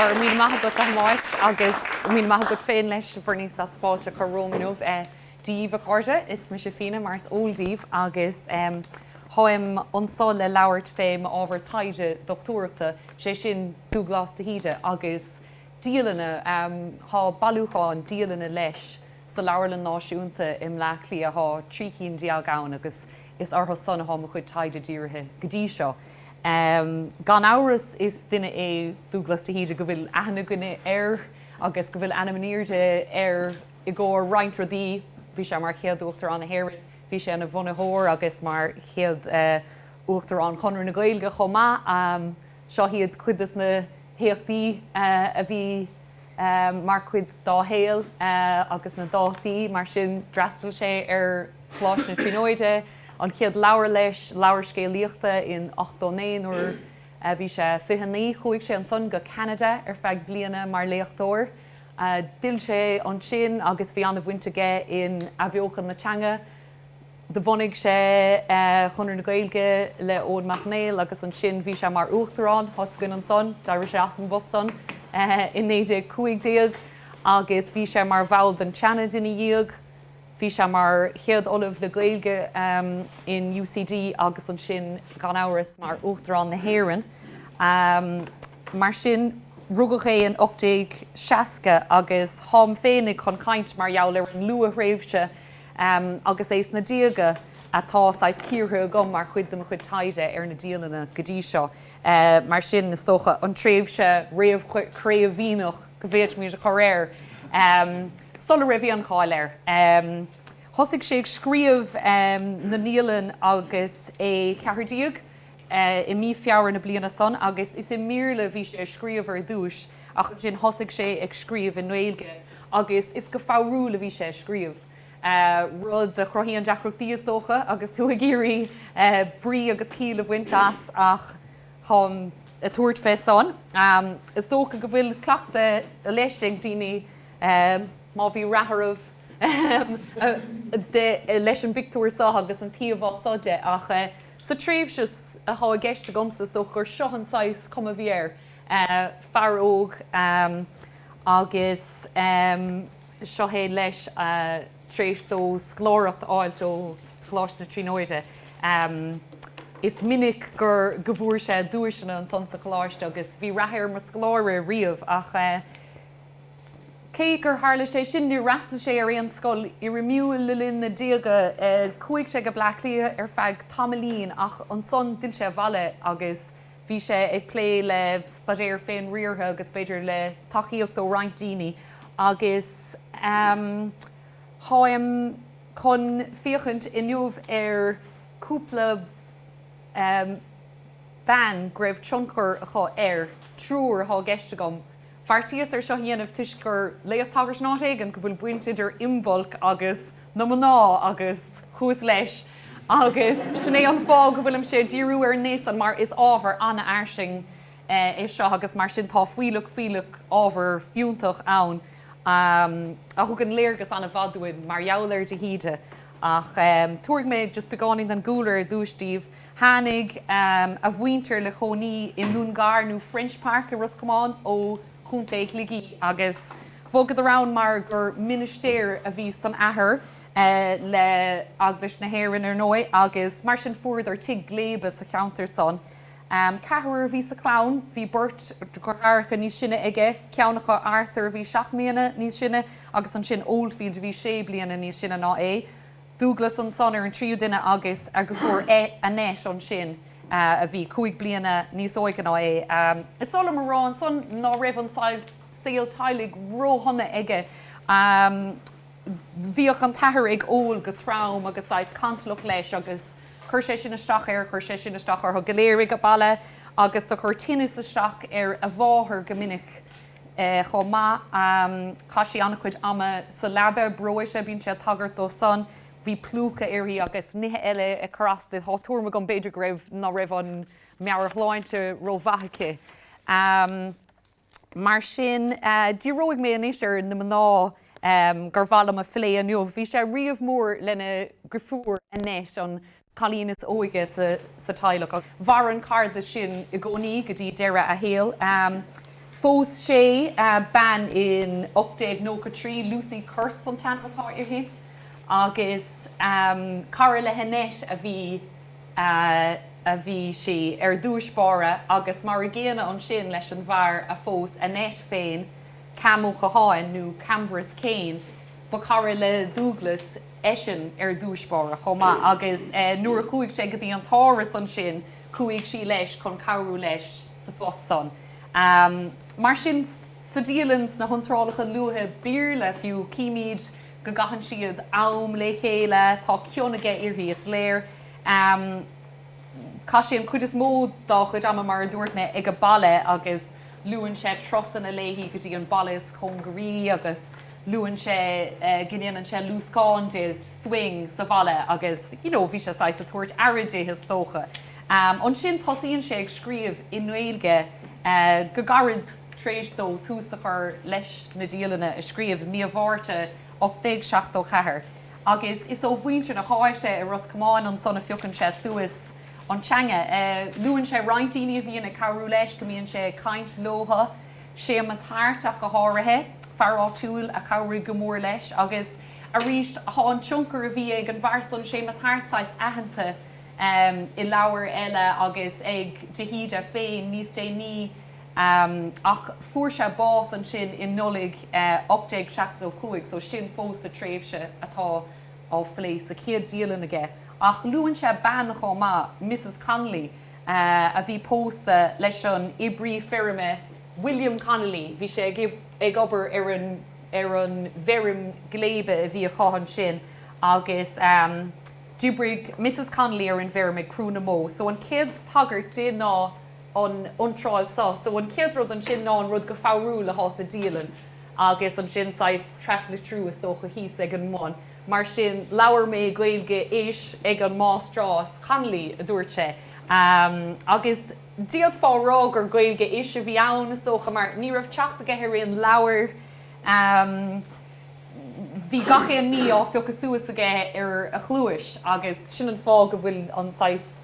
Go raibh míle maith agat, a Mháirt, agus míle maith agat féin leis, a Bhernice, as fáilte a chur romham inniu. Dia dhaoibh, a chairde. Is mise Fíona, mar is eol daoibh, agus táim anso le labhairt fé m'ábhar taighde dochtúireachta, sé sin, Dubhghlas de hÍde agus dialanna. Tá bailiúchán dialanna leis sa Leabharlann Náisiúnta i mBleá Cliath. Tá trí cinn déag ann agus is orthu san atá mo chuid taighde dírithe go dtí seo. Gan amhras is duine é Dubhghlas de hÍde go bhfuil aithne againn air agus go bhfuil ainm in airde air i gcomhair roinnt rudaí. Bhí sé mar chéad Uachtarán na hÉireann, bhí sé ina bhunaitheoir agus mar chéad Uachtarán Chonradh na Gaeilge chomh maith. Seo iad cuid des na héachtaí a bhí mar chuid dá shaol agus na dátaí mar sin. D'fhreastail sé ar Choláiste na Tríonóide. an chéad leabhar leis, leabhar scéalaíochta, in 89. Nuair a bhí sé 29 chuaigh sé ansan go Ceanada ar feadh bliana mar léachtóir. D'fhill sé ansin agus bhí an-bhaint aige in athbheochan na teanga. Do bhunaigh sé Conradh na Gaeilge le Eoin Mac Néill agus ansin bhí sé mar uachtarán, os a chionn ansan, d'éirigh sé as an bpost san in 1915 agus bhí sé mar bhall den tSeanad ina dhiaidh. Bhí sé mar chéad Ollamh le Gaeilge in UCD agus ansin, gan amhras, mar Uachtarán na hÉireann. Mar sin, rugadh é in 1860 agus táim féinig chun caint mar gheall ar an luath-thréimhse agus é sna déaga atá saghas cíortha agam mar chuid de mo chuid taighde ar na dialanna go dtí seo. Mar sin, is dócha, an tréimhse réamh-Chraoibhíneach. go bhféadfaimid a chur air sula raibh aon cháil air. Thosaigh sé ag scríobh na ndialann agus é ceathair déag, i mí Feabhra na bliana san, agus is i mBéarla a bhí sé ag scríobh ar dtúis ach ansin thosaigh sé ag scríobh i nGaeilge agus is go foghrúil a bhí sé ag scríobh, rud a chruthaíonn deacrachtaí is dócha agus tú ag iarraidh brí agus ciall a bhaint as ach. táim ag tabhairt fé san. Is dócha go bhfuil cleachtadh leis ag daoine má bhí rath oraibh leis an bpictiúr so agus an t-íomhá so de. Ach sa tréimhse atá i gceist agamsa is dócha gur seo an saghas cuma a bhí air, fear óg agus seo é leis, tar éis dó scoláireacht a fháilt ó Choláiste na Tríonóide, is minic gur go bhfuair sé duaiseanna ansan sa Choláiste agus bhí rath air mar scoláire riamh ach cé gur tharla sé sin, níor fhreastail sé ar aon scoil fhoirmiúil le linn na déaga. Chuaigh sé go Bleá Cliath ar feadh tamaillín ach ansan d'fhill sé abhaile agus. Bhí sé ag plé le staidéar féinriartha agus b'fhéidir le tacaíocht ó roinnt daoine agus táim chun féachaint inniu ar chúpla bean go raibh tionchar acu air, triúr atá i gceist agam, bheartaíos ar seo a dhéanamh toisc gur léas tagairt in áit éigin go bhfuil baint idir Imbolc agus na mná agus chuas leis agus sin é an fáth go bhfuilimse ag díriú ar an ngné san mar is ábhar an-fhairsing é seo agus mar sin tá fuílleach, fuílleach ábhar fiúntach ann a thugann léargas an-mhaith dúinn mar gheall ar de hÍde ach tabharfaidh mé just beagáinín den gcúlra ar dtús daoibh. Tháinig a mhuintir le cónaí i nDún Gar, nó French Park, i Ros Comáin ó Chontae Shligigh agus bhogadar ann mar gur ministéir a bhí san athair, le Eaglais na hÉireann, ar ndóigh, agus mar sin fuaireadar tigh gléibe sa cheantar san. Ceathrar a bhí sa chlann, bhí beirt dheartháireacha níos sine aige, ceann acu, Arthur, a bhí seacht mbliana níos sine agus ansin Oldfield a bhí sé bliana níos sine ná é. Dúglas ansan ar an tríú duine agus a dheirfiúr Annette ansin, a bhí cúig bliana níos óige ná é. Is oth liom a rá ansan ná raibh an saol teaghlaigh róshona aige. Bhíodh an t-athair ag ól go trom agus saghas cantalach leis agus chuir sé sin isteach air, chuir sé sin isteach orthu go léir ag baile agus do chuir tinneas isteach ar a mháthair go minic. chomh maith. Chaith sí an-chuid ama sa leaba, breoite, bíonn sé ag tagairt dó san. Bhí plúchadh uirthi agus nithe eile ag cur as di. Tá tuairim agam, b'fhéidir, go raibh, ná raibh an meabhairshláinte rómhaith aici. Mar sin, díreoidh mé anois ar na mná gur mhaith liom a phlé inniu. Bhí sé riamh mór lena dheirfiúr Annette an cailín is óige sa teaghlach. Mhair an cairdeas sin i gcónaí go dtí deireadh a shaoil. Phós sé bean in 1893, Lucy Kurtz an t-ainm atá uirthi, agus cara le hAnnette a bhí sí, ar dtús báire, agus mar a gcéanna ansin leis an bhfear a phós Annette féin, Cam Ó Catháin nó Cambreth Kane. Ba chara le Dúghlas. eisean ar dtúis báire chomh maith agus nuair a chuaigh sé go dtí an tÁras ansin chuaigh sí leis chun cabhrú leis sa phost san. Mar sin sa dialann, sna hiontrálacha luatha Béarla fiú, címid go gcaitheann siad am le chéile, tá cion aige uirthi, is léir. Chaith sé an chuid is mó dá chuid ama, mar a dúirt mé, ag baile agus luann sé turasanna léi go dtí an baile is cóngaraí agus, luann sé go ndéanann sé luascán di, swing, sa bhaile agus you know bhí sé saghas ag tabhairt aire di is dócha. Ansin tosaíonn sé ag scríobh i nGaeilge go gairid tar éis dó tús a chur leis na dialanna a scríobh i mí an Mhárta 1874 agus is ó mhuintir na háite i Ros Comáin ansan a phiocann sé suas an teanga. Luann sé roinnt daoine a bhíonn ag cabhrú leis, go mbíonn sé ag caint leotha. Séamus Hart ach go háirithe, fear áitiúil a chabhraigh go mór leis agus arís tá an tionchar a bhí ag an bhfear san, Séamus Hart, saghas aitheanta i leabhair eile agus ag de hÍde féin níos déanaí ach fuair sé bás ansin i Nollaig 1875 so sin fós sa tréimhse atá á phlé sa chéad dialann aige. Ach luann sé bean chomh maith, Mrs Connolly, a bhí pósta leis an oibrí feirme William Connolly. Bhí sé ag obair ar an bhfeirm gléibe a bhí acu ansin agus d'oibrigh Mrs Connolly ar an bhfeirm ag crú na mbó. So an chéad tagairt di ná an iontráil seo. So an chéad rud ansin ná an rud go foghrúil atá sa dialann agus ansin saghas traslitriú is dócha thíos ag an mbun. Mar sin, labhair mé Gaeilge-ish ag an Máistreás Connolly, a dúirt sé. Agus d'fhéadfá a rá gur Gaeilge-ish a bhí ann, is dócha, mar ní raibh teacht aige ar aon leabhar. Bhí gach aon ní á phiocadh suas aige ar a chluais agus sin an fáth go bhfuil an saghas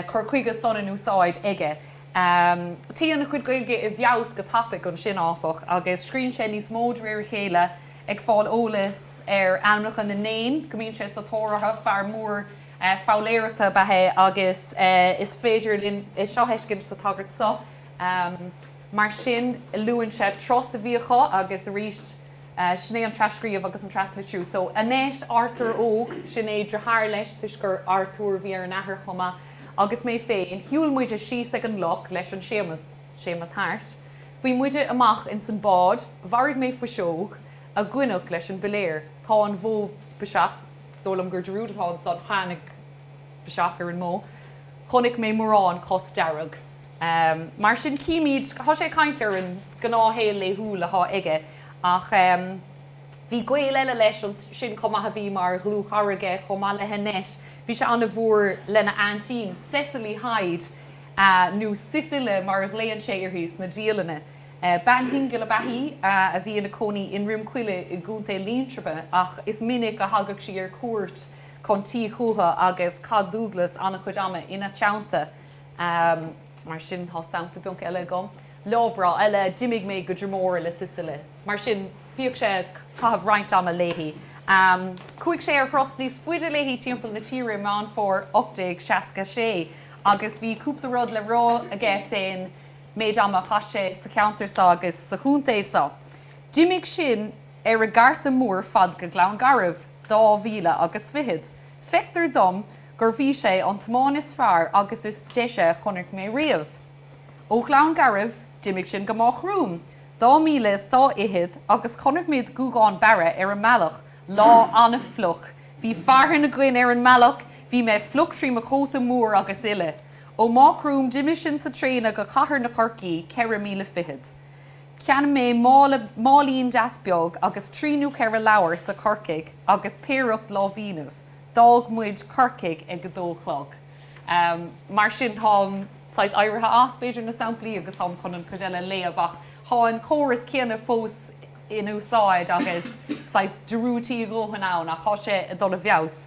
cur chuige san in úsáid aige. Téann a chuid Gaeilge i bhfeabhas go tapaidh ansin, áfach, agus scríonn sé níos mó de réir a chéile. ag fáil eolais ar ainmneacha na n-éan go mbíonn sé sa tóir orthu. Fear mór foghlaeireachta ab ea é agus is féidir linn é seo a thuiscint sa tagairt seo. Mar sin, luann sé turas a bhí acu agus arís, sin é an trascríobh agus an traslitriú. So, Annette, Arthur Óg, sin é deartháir leis toisc gur Arthur a bhí ar an athair chomh maith. Agus mé féin, shiúil muide síos ag an loch leis an Séamas. Séamus Hart, Bhí muide amach ins an bád, mharaigh mé fuiseog, a goineadh leis an bpiléar. Tá an bhó biseach, is dóigh liom gurb é rud atá ansan, tháinig biseach ar an mbó. Chonaic mé mórán cos dearg. Mar sin, címid, tá sé ag caint ar an gnáthshaol laethúil atá aige. Ach bhí gaol eile leis ansin chomh maith a bhí mar dhlúthchara aige, chomh maith le hAnnette, bhí sé an-mhór lena aintín, Cecily Hyde. a, nó Sisile mar a ghlaonn sé uirthi sna dialanna, bean shingil ab ea í a bhí ina cónaí i nDroim Coille i gContae Liatroma ach is minic a thagadh sí ar cuairt chun tí chútha agus chaith Dúglas an-chuid ama ina teannta. Mar sin, tá sampla beag eile agam. Lá breá eile, d'imigh mé go Dromore le Sisile. Mar sin, bhíodh sé ag caitheamh roinnt ama léi. Chuaigh sé ar thuras níos faide léi timpeall na tíre i Meán Fómhair 1866. agus bhí cúpla rud le rá aige fén méid ama a chaith sé sa cheantar so agus sa chontae so. D'imigh sinn ar an gcarta mór fad go Gleann Garbh, dá mhíle agus fichead. Feictear dom gurbh í sé an tiomáint is fearr agus is deise a chonaic mé riamh. Ó Ghleann Garbh, d'imigh sinn go Máigh Chrúm, dá mhíle is dá fhichead agus chonaic muid Guagán Barra ar an mbealach, lá an-fhliuch, Bhí fearthainn againn ar an mbealach, bhí mé fliuch trí mo chóta mór agus uile. Ó Máigh Chrúm d'imigh sinn sa traein go Cathair na Chorcaí, ceithre míle fichead. Cheannaigh mé máilín deas beag agus trí nó cheithre leabhar sa Chorcaigh agus péireacht láimhínibh. D'fhág muid Corcaigh ag a dó a chlog. Mar sin táim saghas éirithe as, b'fhéidir, na samplaí agus táim chun an chuid eile a léamh ach tá an córas céanna fós. in úsáid agus saghas dearúidí a dhóthain ann ach tá sé ag dul i bhfeabhas.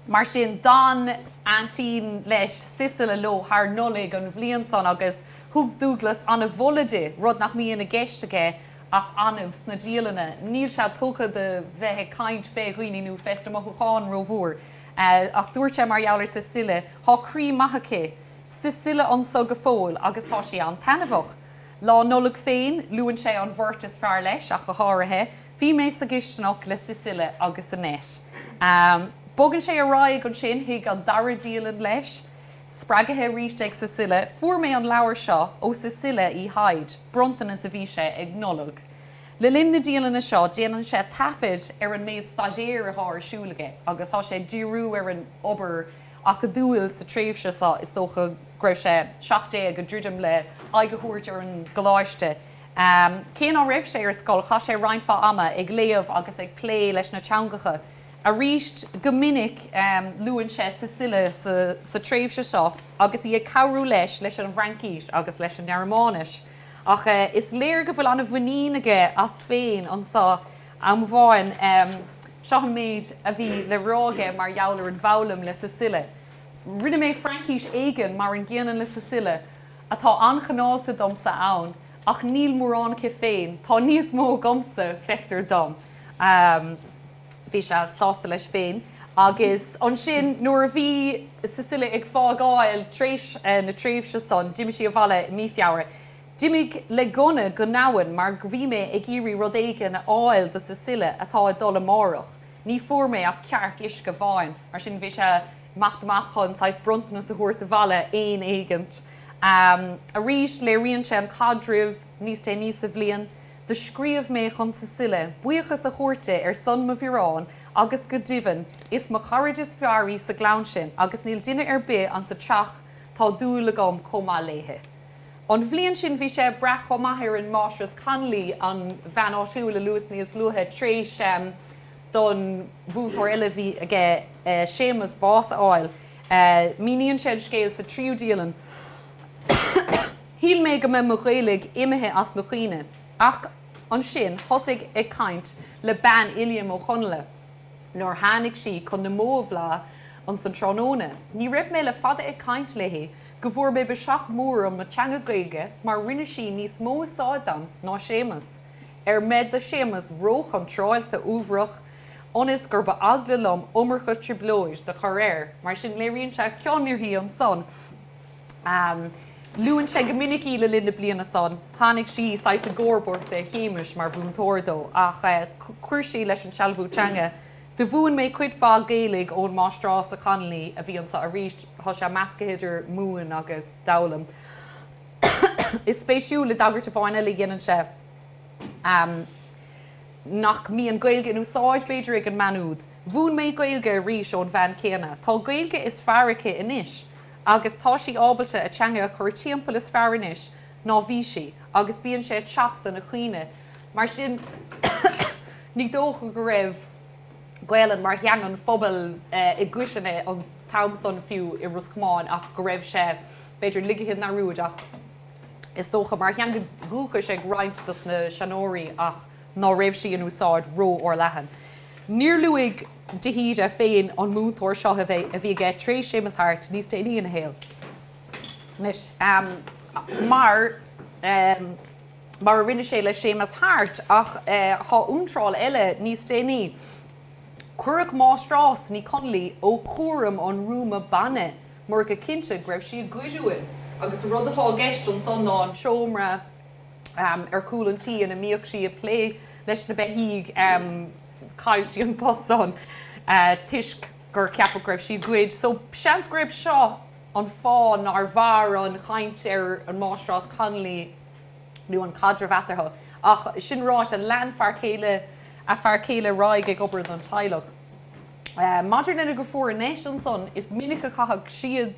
Mar sin, d'fhan aintín leis, Sisile, leo thar Nollaig an bhliain san agus thug Dúglas an-mholadh di, rud nach mbíonn i gceist aige ach annamh sna dialanna. Níl sé tugtha do bheith ag caint fé dhaoine nó fé sna mothúcháin rómhór ach dúirt sé mar gheall ar Sisile, Tá croí maith aici, Sisile, anso go fóill agus tá sí an-taitneamhach. Lá Nollag féin, luann sé an bheirt is fearr leis ach go háirithe, Bhí mé sa gcisteanach le Sisile agus Annette. Bogann sé ar aghaidh ansin chuig an dara dialann leis, spreagaithe arís ag Sisile, Fuair mé an leabhar seo ó Sisile Uí Hyde, bronntanas a bhí sé ag Nollaig. Le linn na dialainne seo, déanann sé taifead ar an méid staidéir atá ar siúl aige agus tá sé ag díriú ar an obair, acadúil sa tréimhse seo, is dócha go raibh sé seacht déag, ag druidim le aghaidh a thabhairt ar an gcoláiste. Cé ná raibh sé ar scoil, chaith sé roinnt mhaith ama ag léamh agus ag plé leis na teangacha. Arís, go minic luann sé Sisile sa tréimhse seo agus í ag cabhrú leis leis an bhFraincís agus leis an nGearmáinis. Ach is léir go bhfuil an-mhuinín aige as féin anseo. Am amháin, seo an méid a bhí le rá aige mar gheall ar an bhfoghlaim le Cecilia, Rinne mé Fraincis éigin mar an gcéanna le Cecilia, atá an-chineálta domsa ann, ach níl mórán aici féin. Tá níos mó agamsa, feictear dom. Bhí sé sásta leis féin. Agus ansin, nuair a bhí Cecilia ag fágáil tar éis na tréimhse san, d'imigh sí abhaile i mí Feabhra. D'imigh le gunna go n-abhainn mar go bhí mé ag iarraidh rud éigin a fháil do Cecilia atá ag dul amárach. Ní fuair mé ach cearc uisce amháin, mar sin bhí sé ag imeacht amach chun saghas bronntanas a thabhairt abhaile, éan éigint. Arís, léiríonn sé an caidreamh níos déanaí sa bhliain, Do scríobh mé chun Cecilia buíochas a thabhairt di ar son mo bhiorán agus go deimhin is mo charaid is fearr í sa gclann sin agus níl duine ar bith ansa teach tá dúil agam chomh maith léithe. An bhliain sin bhí sé ag brath chomh maith ar an máistreás Connolly, an bhean áitiúil a luas níos luaithe tar éis don mhúinteoir eile a bhí aige, Séamus, bás a fháil. Míníonn sé an scéal sa tríú dialann, Shíl mé go mbeadh mo Ghaeilg imithe as mo chuimhne ach ansin thosaigh ag caint le bean Uilliam Ó Chonghaile nuair tháinig sí chun na mbó a bhleán ins an tráthnóna. Ní raibh mé le fada ag caint léithe go bhfuair mé biseach mór orm le teanga Gaeilge mar rinne sí níos mó úsáid dom ná Séamus, ar mbeith do Shéamus ró-chontráilte uaibhreach, ionas gurb eagla liom iomarca trioblóid do chur air, mar sin léiríonn sé cion uirthi ansan. Luann sé go minic í le linn na bliana san. Tháinig sí saghas i gcomharbacht de Shéamus mar mhúinteoir dó, ach chuir sí leis an sealbhú teanga. Do mhúin mé cuid mhaith Gaeilge ón máistreás a Connolly a bhí anso aríst, tá sé meascaithe idir múin agus d'fhoghlaim. Is spéisiúil, i dtagairt amháin eile dhéanann sé ehm nach mbíonn Gaeilge in úsáid, b'fhéidir, ag an mbean úd. Mhúin mé Gaeilge arís ón bhean céanna. Tá Gaeilge is fearr aici anois agus tá sí ábalta a teanga a chur timpeall is fearr anois ná bhí sí agus bíonn sé ag teacht do na cuimhne. Mar sin, ní dócha go raibh Gaelainn mar theanga an phobail i gcoitinne an t-am san, fiú i Ros Comáin, ach go raibh sé, b'fhéidir, ligthe i ndearúd, ach is dócha, mar theanga dhúchais ag roinnt dos na seanóirí, ach ná raibh sí in úsáid ró-fhorleathan. Níor luaigh de hÍde féin an múinteoir seo a bhí aige tar éis Séamus Hart níos déanaí ina shaol, mar. mar a rinne sé le Seamus Hart, ach tá iontráil eile níos déanaí, 'Cuireadh Máistreás Ní Chonlaí ó chúram an rúma bainne mar go cinnte go raibh sí ag goid uainn agus an rud atá i gceist ansan ná an seomra ar chúl an tí ina mbíodh sí ag plé leis na beithígh. Chaill sí an post san toisc gur ceapadh go raibh sí ag goid so seans gurb seo an fáth nár mhair an chaint ar an Máistreás Connolly. nó an caidreamh eatarthu. Ach sin ráite, lean fear céile a fear céile ar aghaidh ag obair don teaghlach. Maidir lena dheirfiúr Annette, ansan, is minic a chaitheadh siad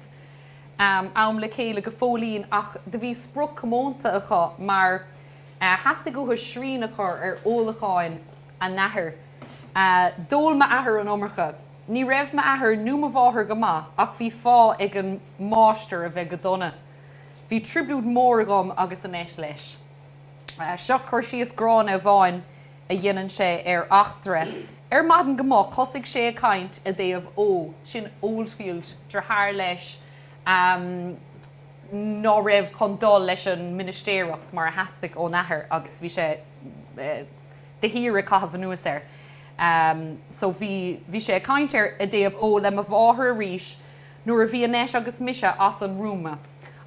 am le chéile go fóillín ach do bhí sprioc chomónta acu mar theastaigh uathu srian a chur ar ólacháin a n-athair. D'ól m'athair an iomarca. Ní raibh m'athair nó mo mháthair go maith ach bhí fáth ag an máistir a bheith go dona. Bhí trioblóid mór agam agus Annette leis. Seo cur síos gránna amháin a dhéanann sé ar eachtra ar maidin go moch thosaigh sé ag caint i dtaobh Ó, sin Oldfield, deartháir leis ná raibh chun dul leis an ministéireacht mar a theastaigh ón athair agus bhí sé de shíor ag caitheamh anuas air. So bhí sé ag caint ar i dtaobh Ó le mo mháthair arís. nuair a bhí Annette agus mise as an rúma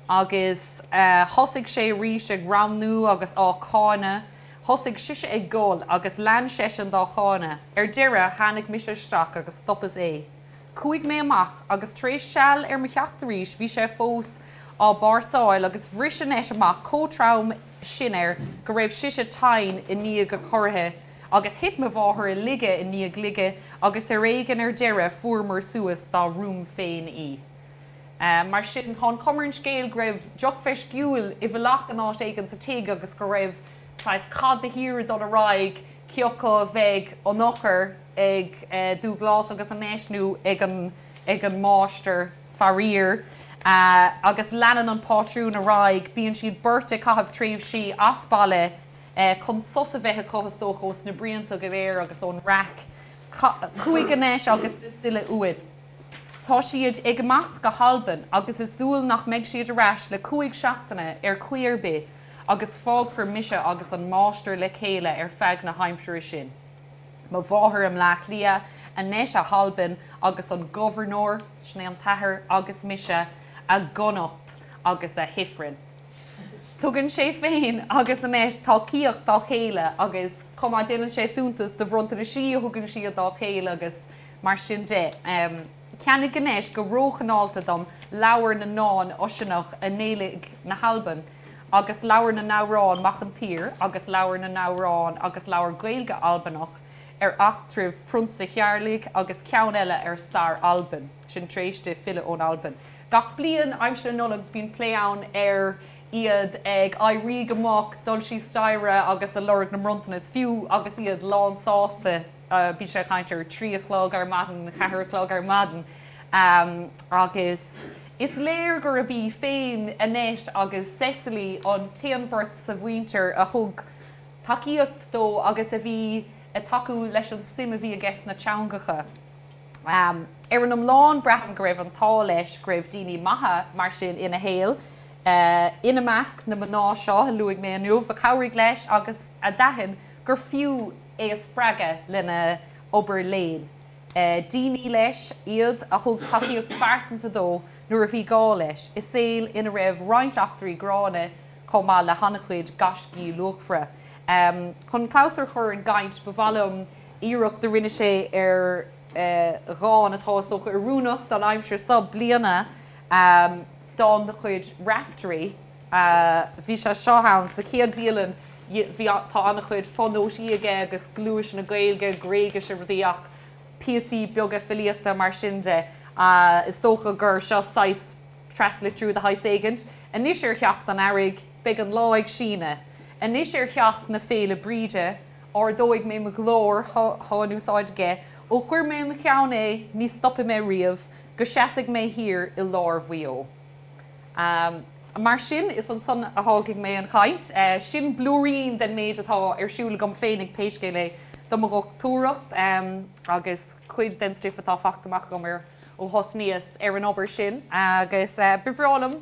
agus thosaigh sé arís ag damnú agus á cáineadh. Thosaigh sise ag gol agus lean seisean dá cháineadh. Ar deireadh tháinig mise isteach agus stopas é. Chuaigh mé amach agus tar éis seal ar mo theacht arís bhí sé fós ag báirseáil agus bhris Annette amach chomh trom sin air go raibh sise tinn i ndiaidh a corraithe Agus thit mo mháthair i laige i ndiaidh laige agus ar éigean ar deireadh fuaireamar suas dá rúm féin í. Mar sin tá an chuma ar an scéal go raibh deoch mheisciúil i bhfolach in áit éigin sa tigh agus go raibh saghas cath de shíor ag dul ar aghaidh, cé acu a bheadh an eochair ag Dúghlas agus Annette nó ag an Máistir, faraor. Agus leanann an pátrún ar aghaidh, bíonn siad beirt ag caitheamh tréimhsí as baile, chun sos a bheith acu, is dócha, ós na bruíonta go léir agus ón raic. Chuaigh Annette agus Cecilie uainn. Tá siad ag imeacht go hAlbain agus is dual nach mbeidh siad ar ais le cúig seachtaine ar chaoi ar bith agus fágfar mise agus an máistir le chéile ar feadh na haimsire sin, mo mháthair i mBleá Cliath, Annette i hAlbain agus an gobharnóir, sin é an t-athair, agus mise, i gConnacht agus i hifreann. Tugann sé féin agus Annette tacaíocht dá chéile agus chomh maith déanann sé suntas do bhronntanaisí a thugann siad dá chéile agus mar sin de. Cheannaigh Annette go róchineálta dom Leabhar na nDán Oiseanach i nGaeilge na hAlban agus Leabhar na nAmhrán Mac an tSaoir agus Leabhar na nAmhrán agus Leabhar Gaeilge Albanach ar Eachtraibh Prionsa Thearlaigh agus ceann eile ar Stair Alban. sin tar éis di filleadh ón Albain. Gach bliain, aimsir na Nollag, bíonn plé ann ar iad ag éirí go moch, dul síos staighre agus ag lorg na mbronntanas. Fiú agus iad lánfhásta, bíonn siad ag caint ar trí a chlog ar maidin, ceathair a chlog ar maidin agus is léir gurb í féin Annette agus Cecily an t-aon bheirt sa mhuintir a thug tacaíocht dó agus a bhí ag tacú leis an suim a bhí aige sna teangacha. Ar an iomlán, braithim go raibh an t-ádh leis go raibh daoine maithe mar sin ina shaol, ina measc na mná seo a luaigh mé inniu, a chabhraigh leis agus a d'aithin gur fiú é a spreagadh lena obair léinn. Daoine, leis, iad a thug tacaíocht phearsanta dó nuair a bhí gá leis, i saol ina raibh roinnt eachtraí gránna chomh maith le han-chuid gaiscí luachmhara. Chun clabhsúr a chur ar an gcaint, ba mhaith liom. iarracht a rinne sé ar dhán atá, is dócha, oiriúnach don aimsir seo bliana, dán de chuid Raiftearaí. Bhí sé seo ann sa chéad dialann, bhí, tá an-chuid fo-nótaí aige agus gluaiseanna Gaeilge, Gréigise, rudaí ach píosaí beaga filíochta mar sin de. Is dócha gur seo saghas traslitriú de shaghas éigint. Anois ar theacht an earraigh beidh an lá ag síneadh. Anois ar theacht na Féile Bríde. Ardóidh mé mo ghlór atá in úsáid aige, ó chuir mé i mo cheann é, ní stopfaidh mé riamh, go seasfaidh mé thiar i lár Mhaigh Eo. Mar sin, is ansan a fhágfaidh mé an chaint. Sin blúirín den méid atá ar siúl agam féinig pé scéal é do mo dhochtúireacht, agus cuid den stuif atá fachta amach agam ó thosnaíos ar an obair sin, agus ba bhreá liom,